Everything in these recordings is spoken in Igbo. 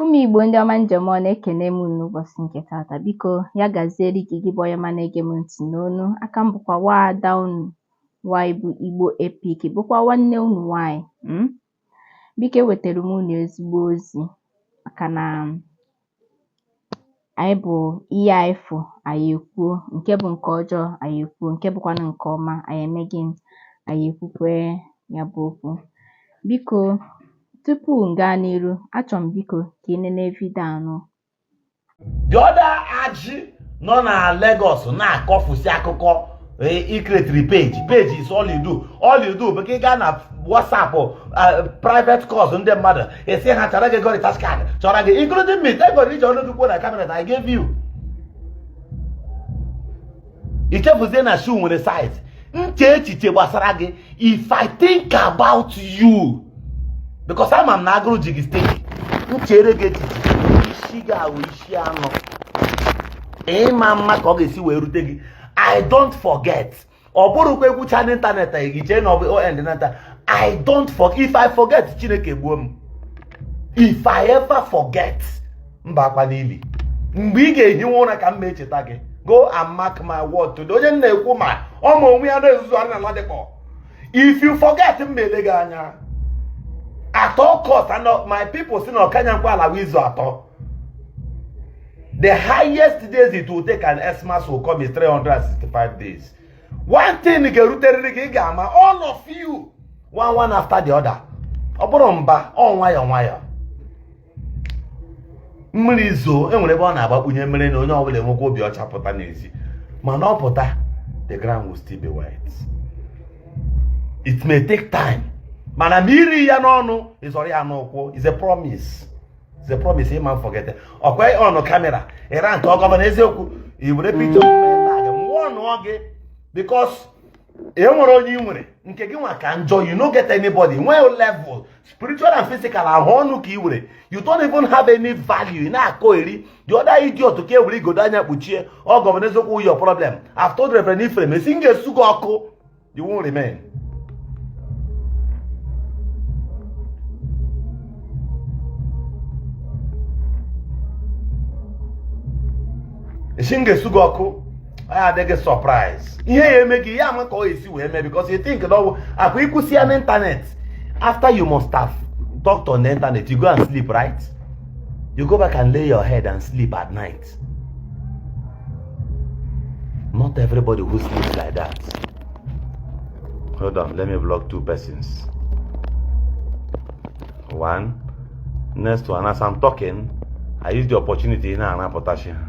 ụmụ igbo ndị ọma ndeme nụ ekenee m unu ụbọchị nke taata biko ya gaziere gị gị bụ onye ọma na-ege m ntị n'onu a ka m bụkwa nwaada unu nwaanyị bụ igbo epik bụkwa nwanne unu nwaanyị hmm? biko ewetara m unu ezigbo ozi maka na anyị bụ ihe anyị fụ anyị ekwuo nke bụ nke ọjọọ anyị ekwuo nke bụkwanụ nke ọma anyị eme gịnị anyị ekwukwe ya bụ okwu biko tupu m gaa n'iru achọrọ m biko ka ị nene vidio anụ the other ajị nọ na Lagos na-akọfusi akụkọ ị kretiri peji peji is all you do all you do bụ ka ị gaa na WhatsApp uh, private calls ndị mmadụ ị sị ha chọọrọ gị ego recharge card chọọrọ gị including me thank God i ji ọnụ gị kwuo na kamera that I gave you i chefuzie na shoe nwere size m chee echiche gbasara gị if i think about you because ama m na agụrụ ji gị steeti m cheere gị echiche isi gị awụ isi anọ ị ma ama ka ọ ga-esi wee rute gị i don't forget ọ bụrụkwa ekwucha n'ịntanetị anyị gị chee na ọ bụ on nata i don't forget if i forget chineke gbuo m if i ever forget m bakwaa n'ili mgbe ị ga-ehiwe ụra ka m ma echeta gị go and mark my word today onye m na-ekwu ma ọ ma onwe ya na-ezuzuharị na Ladipo if you forget m ele gị anya at all cost and my people si na ọkanya nkwa ala izu atọ the highest days it will take and Xmas will come is 365 days one thing ga-eruterịrị gị ị ga-ama all of you one one after the other ọ bụrụ mba ọ nwayọọ nwayọọ mmiri zoo e nwere ebe ọ na-agbakpunye mmiri na onye ọbụla enwekwa obi ọcha pụta n'ezi mana ọ pụta the ground will still be wet it may take time mana ma i ri ya n'ọnụ ị zọrọ ya n'ụkwụ is a promise is a promise ị ma forget ọkwa ọnụ kamera ịra nke Governor eziokwu i were picha mmụọ nụọ gị because e nwere onye ị nwere nke gị nwa ka njọ you no get anybody nwee level spiritual and physical ọ wụ ọnụ ka ị nwere you don't even have any value ị na-akọ eri the other idiot ka e were igodo anya kpuchie Governor eziokwu your problem I've told Reverend Ephraim esi m ga-esu gị ọkụ you won't remain esi m ga-esu gị ọkụ ya adị gị surprise ihe ya eme gị ya ama ka ọ esi wee mee because you think na ọ wụkwa ikwusi ya n'internet after you must have talked on the internet you go and sleep right you go back and lay your head and sleep at night not everybody who sleeps like that hold on let me block two persons one next one as i'm talking i use the opportunity na anapụtachi ha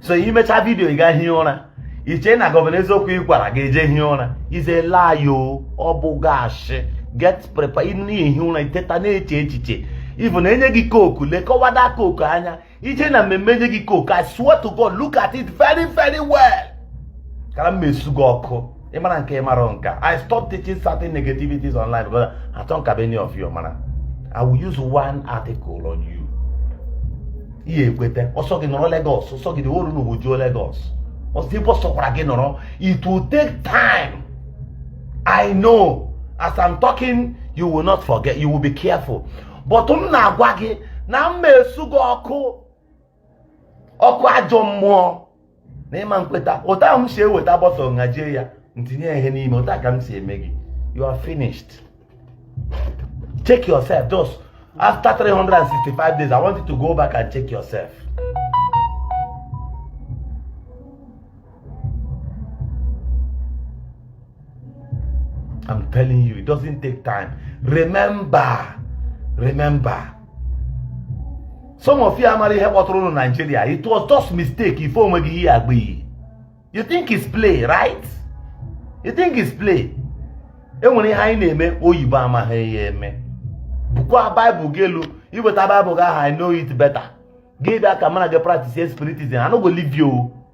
so i mecha vidio ị gaa hie ụra i che na Governor Eziokwu ị gwara gị eje hie ụra is a lie o ọ bụga ashị get prepared na-ehi ụra i teta na-eche echiche ivu na e nye gị Coke lekọwada Coke anya i je na mmemme e nye gị Coke I swear to God look at it very very well kara m esu gị ọkụ ị mara nke ị mara nka i stop teaching certain negativities online because i don't have any of you mara i will use one article on you ihe ekweta ọ sọ gị nọrọ Lagos ọ sọ gị dị olu na owojuo Lagos ọ sọ ebe ọ sọkwara gị nọrọ it will take time i know as i'm talking you will not forget you will be careful but m na-agwa gị na m ma esu gị ọkụ ọkụ ajọ mmụọ na ị ma nkweta otu a m si eweta bottle ngajie ya m tinye ihe n'ime otu a ka m si eme gị you are finished check yourself just after 365 days i want you to go back and check yourself I'm telling you, it doesn't take time. Remember, remember. Some of you amara ihe kpọtara ụnụ Nigeria. It was just mistake ife onwe gị ihe agba iyi. You think it's play, right? You think it's play? E nwere ihe anyị na-eme oyibo amaghị ya eme. Bukwa Bible gị elu, i weta Bible gị ahụ I know it better. Gị bịa ka mụ na gị practice spiritism, I no go leave you.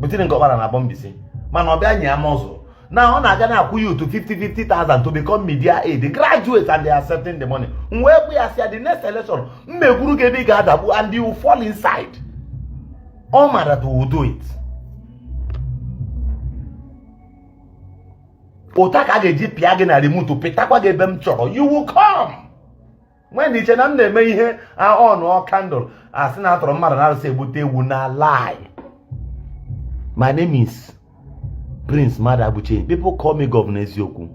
but in Ngor Okpala na Aboh Mbaise mana ọ bịa nye ya mọzụ na ọ na-aga na-akwụ ya up to 50,000 to become media aide graduate and they are accepting the money m wee gwa ya sị ya the next election m ma egwuru gị ebe ị ga-adagbu and you fall inside ọ Mada to do it otu a ka a ga-eji pịa gị na remote pịtakwa gị ebe m chọrọ you will come nwee na iche na m na-eme ihe ọnụ candle a sị na a tọrọ mmadụ n'arụsị egbute ewu na lie my name is Prince Madabuchi people call me Governor Eziokwu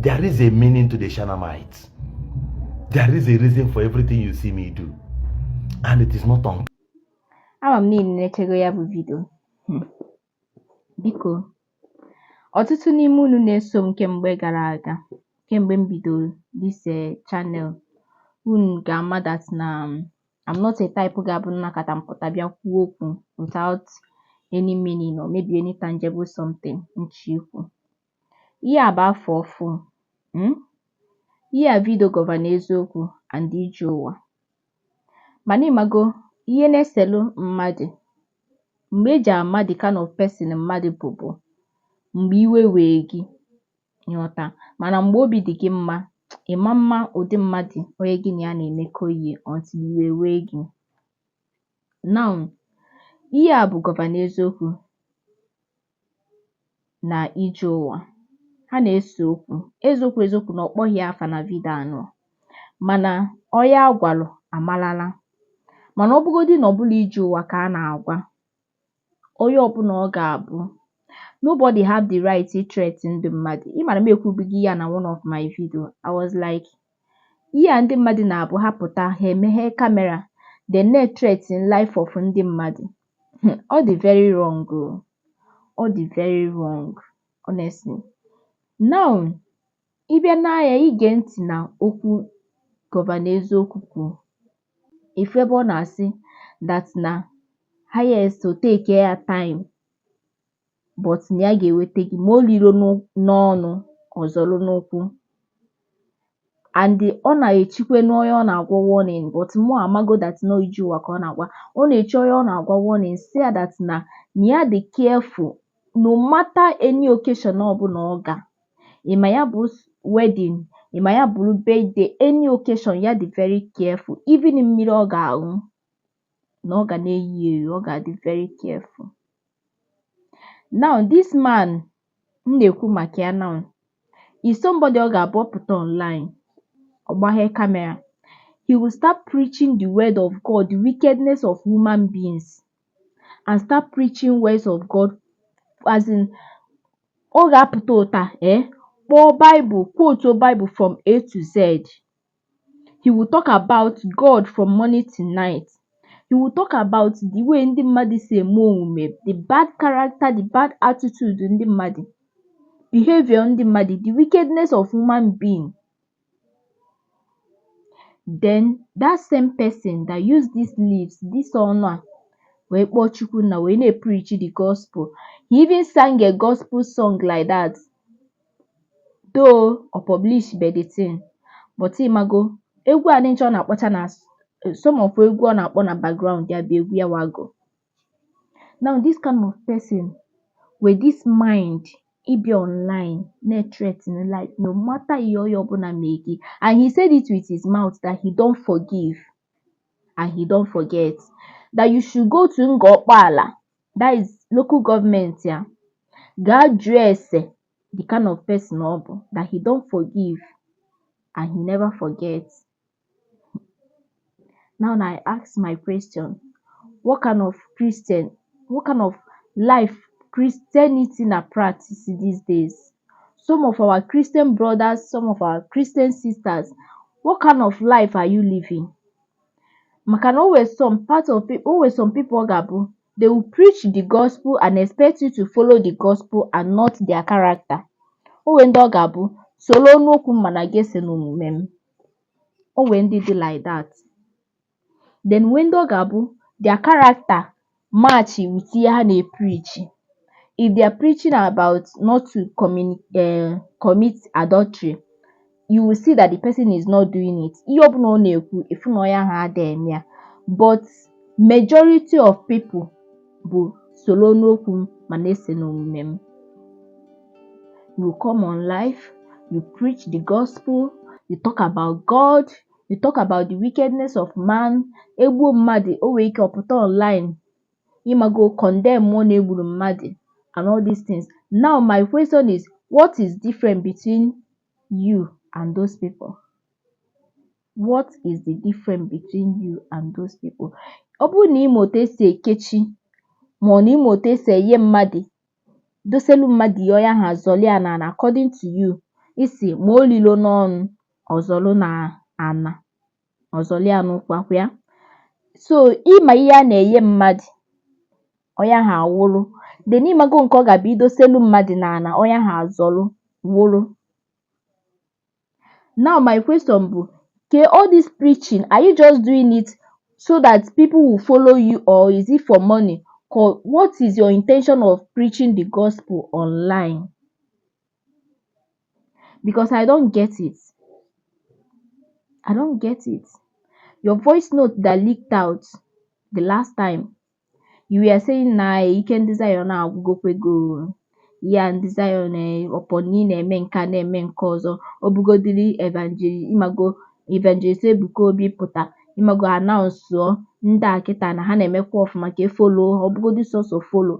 there is a meaning to the Shanamites there is a reason for everything you see me do and it is not on ama m niile na-echego ya bụ vidio hmm. Biko, ọtụtụ n'ime unu na-eso m kemgbe gara aga, kemgbe m bidoro this eh, channel, unu ga-ama that na um, I'm not a type ga-abụ m nọkata m pụta bịa kwuo okwu without any meaning or maybe any tangible something m chọ ikwu. Ihe a bụ afọ ọfụ. Hmm? Ihe a vidio Gọvanọ Eziokwu and Ije Ụwa. Mana ị mago ihe na-eselu mmadụ mgbe e ji ama the kind of person mmadụ bụ bụ mgbe iwe wee gị ị ghọta mana mgbe obi dị gị mma ị ma ama ụdị mmadụ onye gị na ya na-emekọ ihe until iwe wee gị. Now, ihe a bụ Gọvanọ Eziokwu na Ije Ụwa ha na-ese okwu eziokwu eziokwu na ọ kpọghị ya afa na vidio anụ mana onye a gwalụ amalala mana ọ bụgodị na ọ bụrọ Ije Ụwa ka a na-agwa onye ọbụla ọ ga-abụ nobody have the right to threaten ndị mmadụ ị mara m ekwubugo ya na one of my video I was like ihe a ndị mmadụ na-abụ ha pụta ha emeghe kamera they na-ethreaten life of ndị mmadụ Hmm, ọ dị very wrong o ọ dị very wrong honestly now ị bịa now ị gee ntị na okwu Gọvanọ Eziokwu kwuru ị fụ ebe ọ na-asị that na highest o take ya time but na ya ga-enweta gị ma o liro n'ọnụ ọ zọlụ n'ụkwụ and ọ na-echikwe n'onye ọ na-agwa warning but mụ amago that na ọ Ije Ụwa ka ọ na-agwa ọ na-echi onye ọ na-agwa warning sị ya that na na ya dị careful no matter any occasion ọbụla ọ ga ịma ya bụ wedding ịma ya bụrụ birthday any occasion ya dị very careful even mmiri ọ ga-aṅụ na ọ ga na-eyi ya eyi ọ ga-adị very careful now this man m na-ekwu maka ya now is somebody ọ ga-abụ ọ pụta online ọ gbaghe kamera he will start preaching the word of God the wickedness of human beings and start preaching words of God as in ọ ga-apụta ụta eh kpọọ Bible quote Bible from A to Z he will talk about God from morning to night he will talk about the way ndị mmadụ si eme omume the bad character the bad attitude ndị mmadụ behavior ndị mmadụ the wickedness of human being then that same person that use this lips this ọnụ a wee kpọọ Chukwu na wee na-eprichi the gospel he even sang a gospel song like that though ọ publish be the thing but ịmago egwu a nịncha ọ na-akpọcha na some of egwu ọ na-akpọ na background ya bụ egwu ya wago now this kind of person with this mind ị bịa online na-ethreaten life no matter ihe onye ọbụla mee gị and he said it with his mouth that he don't forgive and he don't forget that you should go to Ngor Okpala that is local government ya gaa jụọ ese the kind of person ọ bụ that he don't forgive and he never forget now na I ask my question what kind of Christian what kind of life Christianity na practice these days some of our Christian brothers some of our Christian sisters what kind of life are you living maka na o nwere some part of people o nwere some people ọ ga-abụ they will preach the gospel and expect you to follow the gospel and not their character o nwere ndị ọ ga-abụ soro n'okwu m mana gị esona omume m o nwere ndị dị like that then nwee ndị ọ ga-abụ their character match with ihe ha na-epreachi if they are preaching about not to communi eh, commit adultery you will see that the person is not doing it ihe ọbụla ọ na-ekwu ị fụ na onye ahụ ada eme ya but majority of people bụ soro n'okwu m mana esona omume m you come on live you preach the gospel you talk about God you talk about the wickedness of man e gbuo mmadụ o nwere ike ọ pụta online ịmago condemnụọ na e gburu mmadụ and all these things now my question is what is different between you and those people what is the difference between you and those people ọ bụrụ na ị ma otu esi ekechi ma ọ na ị ma otu esi enye mmadụ doselu mmadụ ihe onye ahụ azọli ya n'ana according to you ị sị ma o lilo n'ọnụ ọ zọlụ n'ana ọ zọlị ya n'ụkwakwa ya so ị ma ihe a na-enye mmadụ onye ahụ anwụrụ then ịmago nke ọ ga-abụ i doselu mmadụ n'ana onye ahụ azọlụ nwụrụ now my question bụ ke all this preaching are you just doing it so that people will follow you or is it for money Ko- what is your intention of preaching the gospel online because I don't get it. I don't get it. Your voice note that leaked out the last time, you were saying na ike ndị Zion agwụgokwego ya ndị Zion upon na ị na-eme nke a na-eme nke ọzọ ọ bụgodiri evangelist imago evangelist Ebuka Obi pụta imago announce ndị a kịta na ha na-emekwa ọfụma ka e follow ọ bụgodi sọsọ follow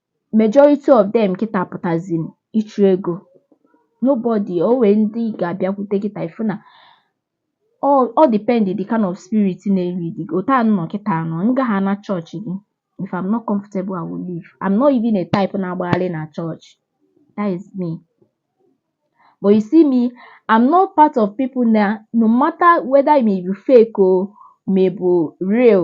majority of them kịta pụtazi ịchụ ego nobody o nwee ndị ga-abịakwute kịta ị fụ na ọ ọ depend the kind of spirit na-elead gị otu a nọ kịta nọ nga ahụ na chọọchị gị if I'm not comfortable I will leave I'm not even a type na-agbagharị na chọọchị that is me but you see me I'm not part of people na no matter whether maybe fake or maybe real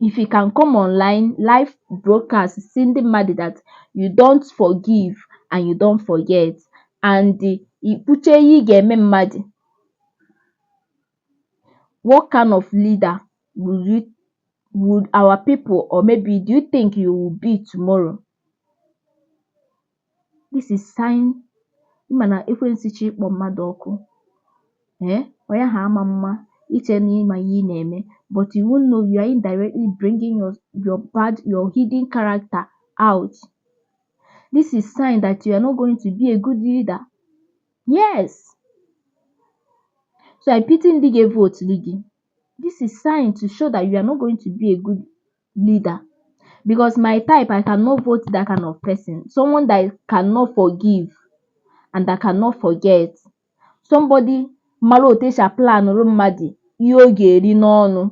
if you can come online live broadcast si ndị mmadụ that you don't forgive and you don't forget and ikpuche ihe ị ga-eme mmadụ what kind of leader will you would our people or maybe do you think you will be tomorrow this is sign ị ma na ekwensu chọọ ịkpọ mmadụ ọkụ ee onye ahụ ama ama iche na ịma ihe ị na-eme but you won't know you are indirectly bringing your, your bad your hidden character out this is sign that you are not going to be a good leader yes so i pity ndị ga-evote gị this is sign to show that you are not going to be a good leader because my type I cannot vote that kind of person someone that cannot forgive and that cannot forget somebody mara otu esi aplanụrụ mmadụ ihe ọ ga-eri n'ọnụ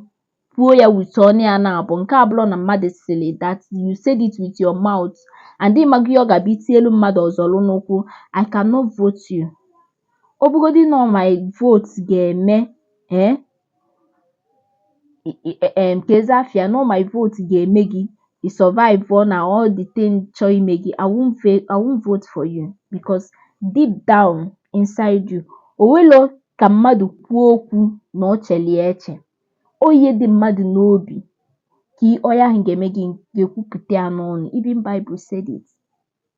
kwuo ya with ọnụ ya na-abụ nke abụlọ na mmadụ sịrị that you said it with your mouth and ịmaghị ihe ọ ga-abịa itielu mmadụ ọzọlụ n'ụkwụ I cannot vote you ọ bụgodị na my vote ga-eme ee eh, nke eze afia na my vote ga-eme gị i survive ọ na all the thing chọọ ime gị I won't, I won't vote for you because deep down inside you onwelo ka mmadụ kwuo okwu na ọ cheli eche ọ ihe dị mmadụ n'obi ka onye ahụ ga-eme gị ga-ekwupụta ya n'ọnụ even Bible said it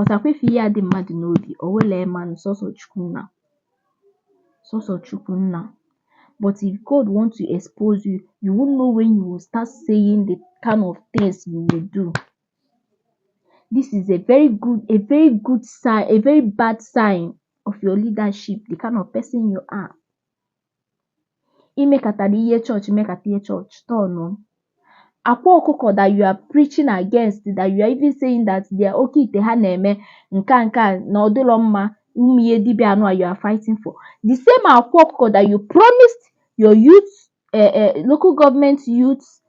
ọ̀sàkwa ife ihe a dị mmadụ̀ n'obì ọ̀ wele ya mmanụ sọsọ̀ chukwu nnà sọsọ̀ chukwu nnà but if God want to expose you you won't know when you will start saying the kind of things you will do this is a very good a very good sign a very bad sign of your leadership the kind of person you are imekatara ihe chọọchị imekata ihe chọọchị turn akwa ọkụkọ that you are preaching against that you are even saying that their oke ite ha na-eme nke a nke a na ọ dịrọ mma ụmụ ihe dibịa anụa you are fighting for the same akwa ọkụkọ that you promised your youth eh, eh, local government youth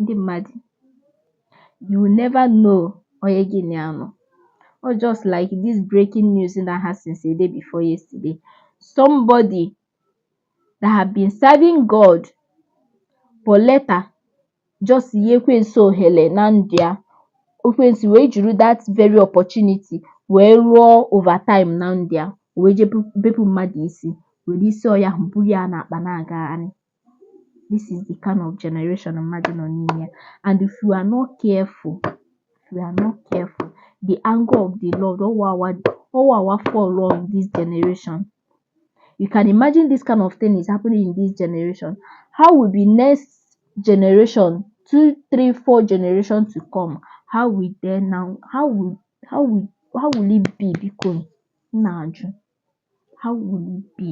ndị mmadụ you will never know onye gị na ya nọ or just like this breaking news na ha since a day before yesterday somebody that have been serving God but later just nye ekwensu ohere na ndụ ya ekwensu wee jiri that very opportunity wee rụọ overtime na ndụ ya wee je bepụ mmadụ isi were isi ọya ahụ buru ya n'akpa na-agagharị this is the kind of generation mmadụ nọ n'ime ya and if you are not careful if you are not careful the anger of the Lord ọwawa ọwawa fall on this generation you can imagine this kind of thing is happening in this generation how will be next generation two three four generation to come how will they now how will how will how will it be biko m na-ajụ how will it be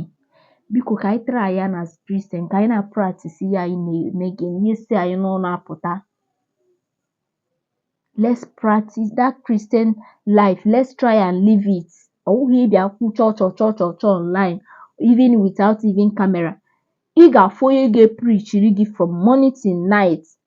biko ka anyị try ya as Christian ka anyị na-practice ihe anyị na-eme gịnị ihe si anyị n'ọnụ apụta let's practice that Christian life let's try and live it ọ bụghị ịbịa kwuo chọọ chọọ chọọ chọọ chọọ online even without even camera ị ga-afụ onye ga-eprichiri gị from morning till night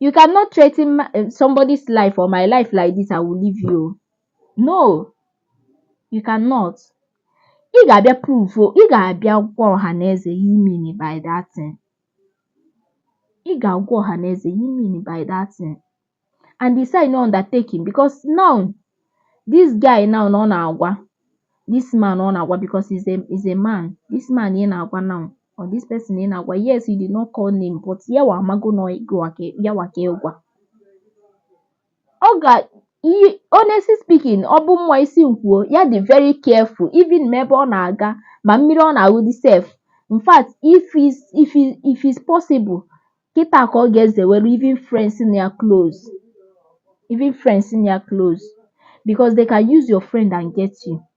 You cannot threaten my, eh, somebody's life or my life like this, I will leave you. No, you cannot. Ị ga-abịa prove, ị ga-abịa gwa ọha na eze ihe imini by that thing. Ị ga-agwa ọha na eze ihe imini by that thing. And ị signụọ undertaking because now this guy now na ọ na-agwa this man ọ na-agwa because he's a, he's a man. This man ị na-agwa now ọ this person ị na-agwa yes you did not call name but ya wa amago na ọ ya wa ka ị gwa ọga honestly speaking ọ bụ mụwa isi m kwuo ya dị very careful even ma ebe ọ na-aga ma mmiri ọ na-aṅụdị sef in fact if is if is if is possible kịta ka ọ ga-ezewere even friends na ya close even friends na ya close because they can use your friend and get you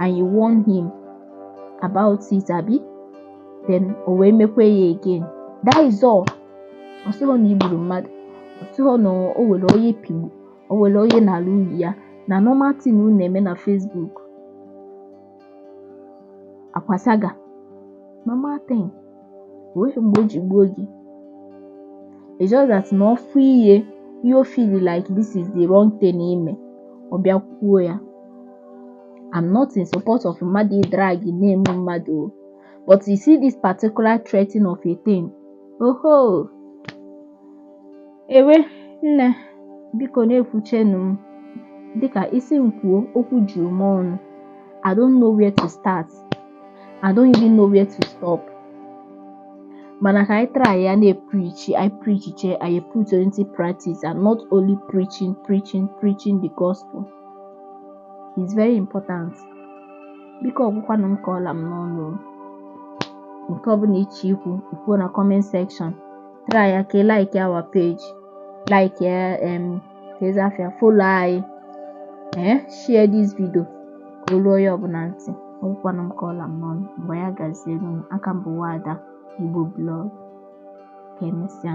and you warn him about it abi then o wee mekwa ya again that is all ọ sịghọ na i gburu mmadụ ọ sịghọ na o were onye pigbu o were onye na-ala uyi ya na normal thing unu na-eme na Facebook akwasaga normal thing onweghị mgbe o ji gbuo gị it's just that na ọ fụ ihe o feel like this is the wrong thing i me ọ bịa kwuo ya I'm not in support of mmadụ ịdrag name mmadụ o but you see this particular threatening of a thing oho ewe nne biko na-ekwuchenu m dịka isi m kwuo okwu juru m ọnụ I don't know where to start I don't even know where to stop mana ka anyị try ya na-eprichi anyị prichichaa anyị put into practice and not only preaching preaching preaching the gospel is very important biko ọ gwụkwanụ m ka ọ la m n'ọnụ nke ọbụla i che ikwu i kwuo na comment section try ya ka ị like our page like ya um ka ezi afịa follow anyị ee share this video ka o lu onye ọbụla ntị ọ gwụkwanụ m ka ọ la m n'ọnụ mgbe ya gaziere m aka m bụ nwada igbo blog ka emesịa